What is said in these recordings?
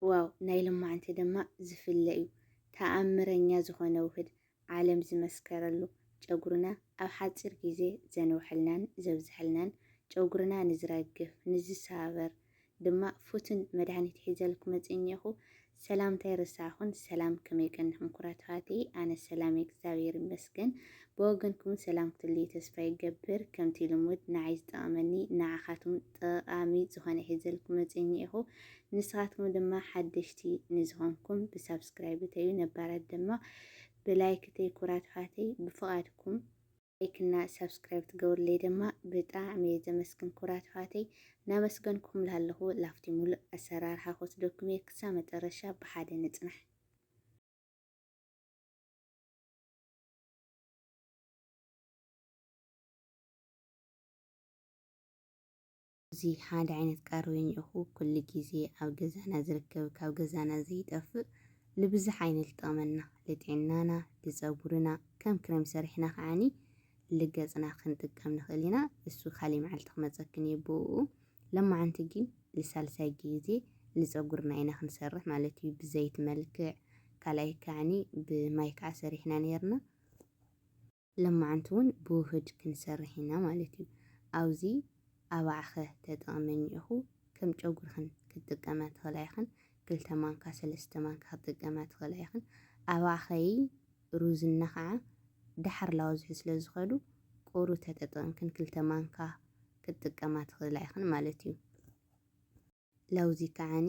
ዋው ናይ ልማዓንቲ ድማ ዝፍለ እዩ ታኣምረኛ ዝኮነ ውህድ ዓለም ዝመስከረሉ ጨጉርና ኣብ ሓፂር ግዜ ዘንውሐልናን ዘብዘሐልናን ጨጉርና ንዝረግፍ ንዝሳበር ድማ ፉትን መድሃኒት ሒዘልኩም መፂኘኹ ሰላምታ ኣይረሳዕኹን ሰላም ከመይ ቀኒኹም ኩራት ኣሕዋተይ ኣነ ሰላም እግዚኣብሔር ይመስገን ብወገንኩም ሰላም ክትልዩ ተስፋ ይገብር ከምቲ ልሙድ ንዓይ ዝጠቐመኒ ንዓኻቱም ጠቓሚ ዝኾነ ሒዘልኩም መፂኘኹ ንስኻትኩም ድማ ሓደሽቲ ንዝኾንኩም ብሳብስክራይብ እተዩ ነባራት ድማ ብላይክ እተይ ኩራት ኣሕዋተይ ብፍቓድኩም ላይክ እና ሳብስክራይብ ትገብርለይ ድማ ብጣዕሚ እየ ዘመስግን ኩራት ኣሕዋተይ ናመስገንኩም ላለኹ ላፍቲ ሙሉእ ኣሰራርሓ ክወስደኩም እየ ክሳብ መጨረሻ ብሓደ ንፅናሕ እዚ ሓደ ዓይነት ቃርበ ኝእኹ ኩሉ ግዜ ኣብ ገዛና ዝርከብ ካብ ገዛና ዘይጠፍእ ልብዝሕ ዓይኒ ልጠቕመና ልጥዕናና ልጸጉርና ከም ክረም ሰሪሕና ከዓኒ ልገጽና ክንጥቀም ንኽእል ኢና እሱ ካሊእ መዓልቲ ክመጸክን እየ ብኡኡ ለማዓንቲ ግን ልሳልሳይ ግዜ ልጸጉርና ኢና ክንሰርሕ ማለት እዩ ብዘይት መልክዕ ካልኣይ ከዓኒ ብማይ ከዓ ሰሪሕና ነይርና ለማዓንቲ ውን ብውህድ ክንሰርሕ ኢና ማለት እዩ ኣውዚ ኣባዕኸ ተጠቅመኝ እኹ ከም ጨጉርኽን ክትጥቀምያ ትኽእላ ኢኽን ክልተ ማንካ ሰለስተ ማንካ ክትጥቀምያ ትኽእላ ኢኽን ኣባዕኸይ ሩዝ እና ኸዓ ዳሓር ላወዝሒ ስለ ዝኸዱ ቁሩ ተጠጠቅምክን ክልተ ማንካ ክትጥቀማ ትኽእላ ኢኽን ማለት እዩ ላውዚ ከዓኒ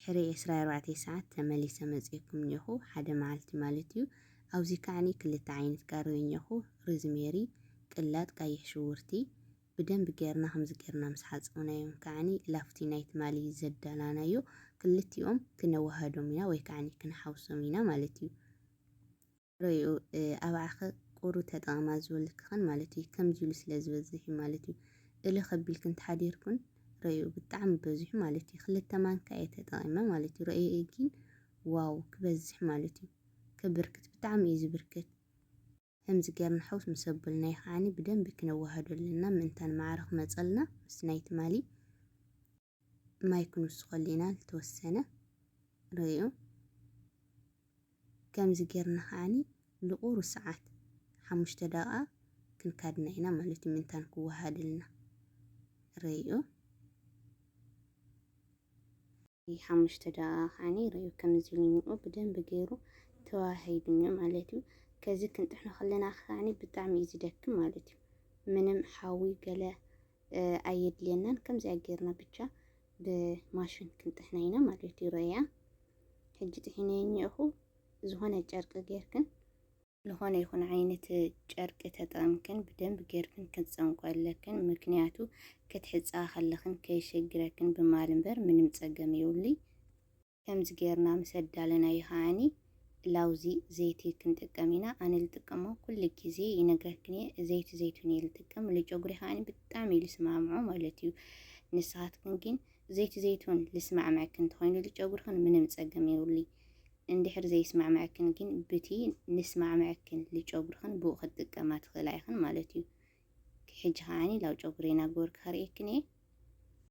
ድሕሪ ዕስራ ኣርባዕተ ሰዓት ተመሊሰ መጺኤኩም እኔኹ፣ ሓደ መዓልቲ ማለት እዩ። ኣብዚ ከዓኒ ክልተ ዓይነት ቀሪበ እኔኹ፣ ርዝሜሪ፣ ቅላጥ ቀይሕ ሽጉርቲ። ብደንቢ ገይርና ከምዚ ገይርና ምስ ሓጸብናዮም ከዓኒ ላፍቲ ናይ ትማሊ ዘዳላናዮ ክልቲኦም ክነወሃህዶም ኢና ወይ ከዓኒ ክንሓውሶም ኢና ማለት እዩ። ረይኡ ኣብዓኺ ቁሩ ተጠቐማ ዝበልክኽን ማለት እዩ ከምዚ ኢሉ ስለ ዝበዝሕ እዩ ማለት እዩ እልህ ከቢልክን ተሓዲርኩን ረይኡ ብጣዕሚ በዚሑ ማለት እዩ ክልተ ማንካ እየ ተጠቒመ ማለት እዩ ረይኡ ግን ዋው ክበዝሕ ማለት እዩ ከብርክት ብጣዕሚ እዩ ዝብርክት ከምዚ ጌርና ሓውስ ምስ ኣበልናዮ ከዓኒ ብደንቢ ክነወሃዶ ኣለና ምእንታን ማዕረ ክመጸልና ምስ ናይ ትማሊ ማይ ክንውስኸሉ ኢና ዝተወሰነ ርእዩ ከምዚ ጌርና ከዓኒ ልቑሩ ሰዓት ሓሙሽተ ደቓ ክንካድና ኢና ማለት እዩ ምንታን ክወሃድልና ርእዩ ሓሙሽተ ደቓ ከዓኒ ርእዩ ከምዚ ልንኡ ብደንብ ገይሩ ተዋሂድኒ ማለት እዩ ከዚ ክንጥሕኖ ከለና ከዓኒ ብጣዕሚ እዩ ዝደክም ማለት እዩ ምንም ሓዊ ገለ ኣየድልየናን ከምዚኣ ጌርና ብቻ ብማሽን ክንጥሕና ኢና ማለት እዩ ረያ ሕጂ ጥሒነ እኒኦኹ ዝኾነ ጨርቂ ጌርክን ዝኾነ ይኹን ዓይነት ጨርቂ ተጠቕምክን ብደንብ ጌርክን ክትጸንቆ ኣለክን ምክንያቱ ክትሕጻ ከለኽን ከይሸግረክን ብማል እምበር ምንም ጸገም የብሉይ። ከምዚ ገይርና ምስ ኣዳለናዮ ከኣኒ ላውዚ ዘይቲ ክንጥቀም ኢና ኣነ ልጥቀሞ ኩሉ ግዜ ይነግረክን እየ ዘይቲ ዘይቱን እየ ልጥቀም ልጨጉሪ ከኣኒ ብጣዕሚ እዩ ልስማምዖ ማለት እዩ ንስኻትክን ግን ዘይቲ ዘይቱን ልስማዕምዐክን እንተኾይኑ ልጨጉርኽን ምንም ጸገም የብሉይ እንድሕር ዘይስማዕምዐክን ግን ብቲ ንስማዕምዐክን ልጨጉርኽን ብኡ ክትጥቀማ ትኽእላ ኢኽን ማለት እዩ ሕጂ ከኣኒ ላው ጨጉሪ ናጎርክ ከርእየክን እየ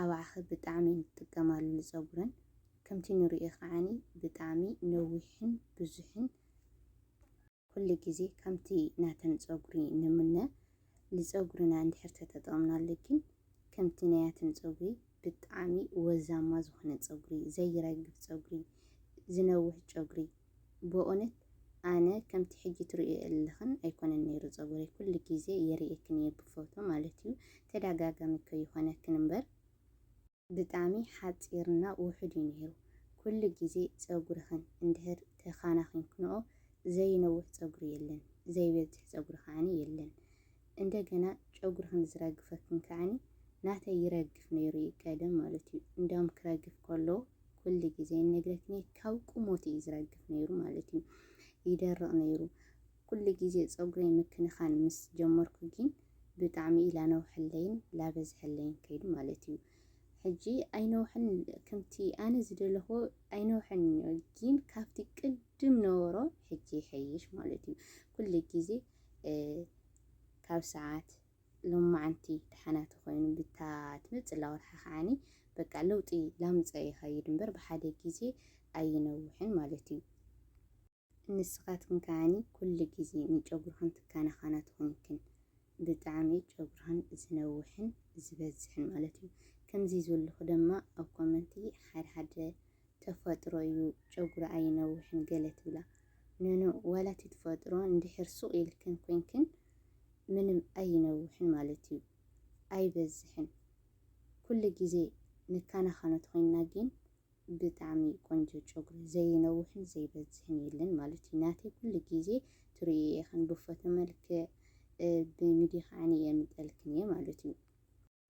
ኣባዕኸ ብጣዕሚ ንጥቀማሉ ንጸጉረን ከምቲ ንሪኦ ከዓኒ ብጣዕሚ ነዊሕን ብዙሕን ኩሉ ግዜ ከምቲ ናተን ጸጉሪ ንምነ ልጸጉርና እንድሕር ተተጠቕምናሉ ግን ከምቲ ናያትን ጸጉሪ ብጣዕሚ ወዛማ ዝኾነ ጸጉሪ ዘይረግፍ ጸጉሪ ዝነውሕ ጨጉሪ በኡነት ኣነ ከምቲ ሕጂ ትርእዮ ኣለኽን ኣይኮነን ነይሩ ጸጉረይ ኩሉ ግዜ የርእየክን እየ ብፎቶ ማለት እዩ ተዳጋጋሚ ከይኾነክን እምበር ብጣሚ ሓጺርና ውሑድ እዩ ነይሩ ኩሉ ግዜ ጸጉርኽን እንድህር ተኻናኺንክንኦ ዘይነውሕ ጸጉሪ የለን ዘይበዝሕ ጸጉሪ ከዓኒ የለን እንደገና ጨጉርኽን ዝረግፈክን ከዓኒ ናተይ ይረግፍ ነይሩ እዩ ቀደም ማለት እዩ እንዳውም ክረግፍ ከሎ ኩሉ ግዜ እነግረክን እየ ካብ ቁሞት እዩ ዝረግፍ ነይሩ ማለት እዩ ይደርቕ ነይሩ ኩሉ ግዜ ፀጉረይ ምክንኻን ምስ ጀመርኩ ግን ብጣዕሚ ላነውሐለይን ላበዝሐለይን ከይዱ ማለት እዩ ሕጂ ኣይነውሐን ከምቲ ኣነ ዝደለኹ ኣይነውሐን እዩ ግን ካብቲ ቅድም ነበሮ ሕጂ ይሐይሽ ማለት እዩ ኩሉ ግዜ ካብ ሰዓት ሎማዕንቲ ደሓና ተኾይኑ ብታ ትመጽእ ላወርሓ ከዓኒ በቃ ለውጢ ላምጸ ይኸይድ እምበር ብሓደ ግዜ ኣይነውሕን ማለት እዩ። ንስኻትክን ከዓኒ ኩሉ ግዜ ንጨጉርኽን ትከናኸና ተኾይንክን ብጣዕሚ ጨጉርኽን ዝነውሕን ዝበዝሕን ማለት እዩ። ከምዚ ዝበልኹ ደማ ኣብ ኮመንቲ ሓደ ሓደ ተፈጥሮ ዩ ጨጉሪ ኣይነውሕን ገለ ትብላ ኖኖ ዋላ እቲ ትፈጥሮ እንድሕር ሱቅ ኢልክን ኮይንክን ምንም ኣይነውሕን ማለት ዩ ኣይበዝሕን ኩሉ ግዜ ንካናካኖ ተኮይንና ጊን ብጣዕሚ ቆንጆ ጨጉሪ ዘይነውሕን ዘይበዝሕን የለን ማለት ዩ ናተይ ኩሉ ግዜ ትርእይዮ ኢክን ብፎቶ መልክዕ ብሚድያ ከዓኒ የምጠልክን እየ ማለት ዩ።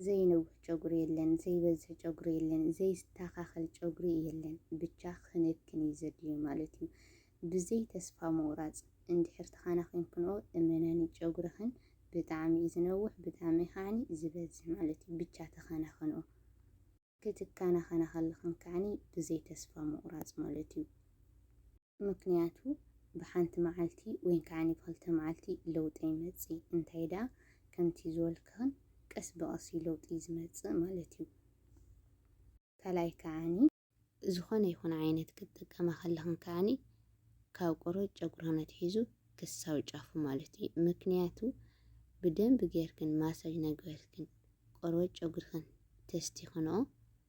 ዘይነውሕ ጨጉሪ የለን ዘይበዝሕ ጨጉሪ የለን ዘይስታካከል ጨጉሪ የለን ብቻ ክንክን እዩ ዘድልዮ ማለት እዩ ብዘይ ተስፋ ምቁራፅ እንድሕር ተካናኪንክንኦ እመናኒ ጨጉርክን ብጣዕሚ እዩ ዝነውሕ ብጣዕሚ ካዓኒ ዝበዝሕ ማለት እዩ ብቻ ተካናክንኦ ክትካናከና ከለክን ካዓኒ ብዘይ ተስፋ ምቁራፅ ማለት እዩ። ምክንያቱ ብሓንቲ መዓልቲ ወይን ከኣ ብክልተ መዓልቲ ለውጢ ኣይመጽእ እንታይ ደኣ ከምቲ ዝበልካን ቀስ ብቀስ እዩ ለውጢ ዝመጽእ ማለት እዩ ካልኣይ ከኣ ዝኾነ ይኹን ዓይነት ክትጥቀማ ከለኽን ከኣ ካብ ቆርበት ጨጉርኽን ኣትሒዙ ክሳብ ጫፉ ማለት እዩ ምክንያቱ ብደንቢ ጌርክን ማሳጅ ናገበርክን ቆርበት ጨጉርኽን ተስቲኽንኦ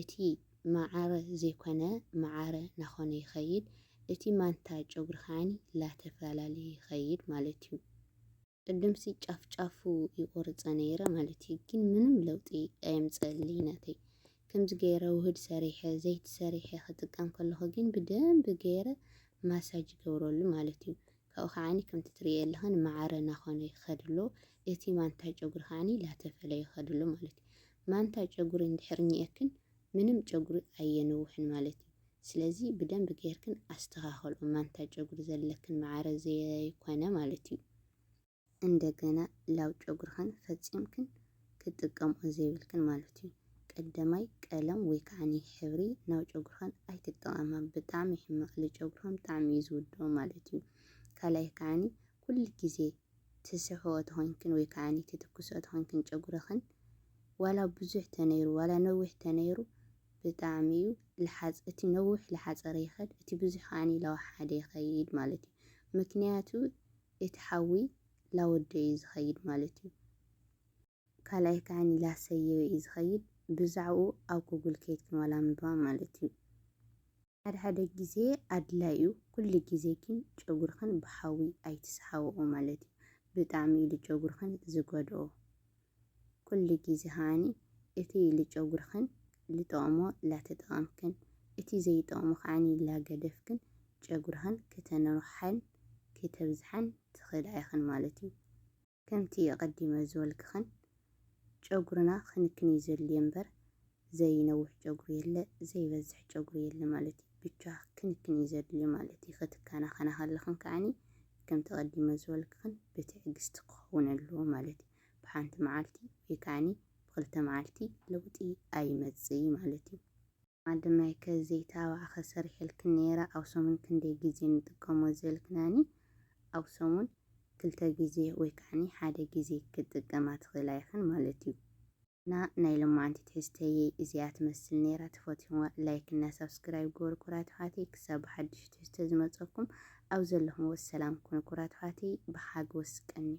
እቲ ማዓረ ዘይኮነ ማዓረ ናኾነ ይኸይድ እቲ ማንታ ጨጉሪ ከዓኒ ላተፈላለየ ይኸይድ ማለት እዩ ቅድምሲ ጫፍ ጫፉ ይቆርፀ ነይረ ማለት እዩ ግን ምንም ለውጢ ኣየምፀእልይ ናተይ ከምዚ ገይረ ውህድ ሰሪሐ ዘይቲ ሰሪሐ ክጥቀም ከለኹ ግን ብደንቢ ገይረ ማሳጅ ይገብረሉ ማለት እዩ ካብኡ ከዓኒ ከምቲ ትርእዮ ኣለኻ ንመዓረ እናኾነ ይኸድ ኣሎ። እቲ ማንታ ጨጉሪ ከዓኒ ላተፈለ ይኸድ ኣሎ ማለት እዩ። ማንታ ጨጉሪ እንድሕር ኒኤክን ምንም ጨጉሪ ኣየንውሕን ማለት እዩ። ስለዚ ብደንቢ ጌርክን ኣስተኻኸልኦ ማንታ ጨጉሪ ዘለክን መዓረ ዘይኮነ ማለት እዩ። እንደገና ላው ጨጉርኽን ፈጺምክን ክትጥቀምኦ ዘይብልክን ማለት እዩ። ቀደማይ ቀለም ወይ ከዓኒ ሕብሪ ናብ ጨጉርኽን ኣይትጠቐማ ብጣዕሚ ሕማቕ ልጨጉርኽን ብጣዕሚ እዩ ዝውድኦ ማለት እዩ። ካልኣይ ከዓኒ ኩሉ ግዜ ትስሕኦ ተኾይንክን ወይ ከዓኒ ትትኩስኦ ተኾይንክን ጨጉርኽን ዋላ ብዙሕ ተነይሩ ዋላ ነዊሕ ተነይሩ ብጣዕሚ እዩ ልሓጽ እቲ ነዊሕ ልሓጸረ ይኸድ እቲ ብዙሕ ከዓኒ ላው ሓደ ይኸይድ ማለት እዩ። ምክንያቱ እቲ ሓዊ ላወደዩ እዩ ዝኸይድ ማለት እዩ። ካልኣይ ከዓኒ ላሰየዩ እዩ ዝኸይድ ብዛዕብኡ ኣብ ጉግል ከይድክን ዋላ ኣንብባ ማለት እዩ። ሓደ ሓደ ግዜ ኣድላይ እዩ ኩሉ ግዜ ግን ጨጉርኽን ብሓዊ ኣይትስሓብኦ ማለት እዩ። ብጣዕሚ እዩ ጨጉርኽን ዝጎድኦ። ኩሉ ግዜ ከኣ እቲ ልጨጉርክን ልጠቕሞ ላተጠቐምክን እቲ ዘይጠቕሞ ከኣ ላገደፍክን ጨጉርክን ክተንውሓን ክተብዝሓን ትኽእላ ኢኽን ማለት እዩ። ከምቲ ኣቐዲመ ዝበልክክን ጨጉርና ክንክን እዩ ዘድልዮ እምበር ዘይነውሕ ጨጉሪ የለ ዘይበዝሕ ጨጉሪ የለ ማለት እዩ። ብቻ ክንክን እዩ ዘድልዮ ማለት እዩ። ክትከናኸና ከለኽን ከኣ ከምቲ ኣቐዲመ ዝበልክክን ብትዕግስቲ ክኸውን ኣለዎ ማለት እዩ። ብሓንቲ መዓልቲ ወይ ከኣኒ ብክልተ መዓልቲ ለውጢ ኣይመጽእይ ማለት እዩ። ማደማይ ከ ዘይት ኣባዕኸ ሰሪሐልክን ነይረ ኣብ ሰሙን ክንደይ ግዜ ንጥቀሞ ዝበልክናኒ ኣብ ሰሙን ክልተ ግዜ ወይ ከኣኒ ሓደ ግዜ ክትጥቀማ ትኽእላ ኢኽን ማለት እዩ። እና ናይ ሎማዓንቲ ትሕዝተይይ እዚኣ ትመስል ነይራ ተፈትኹምዋ ላይክ እና ሳብስክራይብ ግበሩ ኩራት ኣሕዋተይ ክሳብ ብሓዱሽ ትሕዝቶ ዝመጸኩም ኣብ ዘለኹምዎ ሰላም ኩኑ ኩራት ኣሕዋተይ ብሓጎስ ቀንዩ።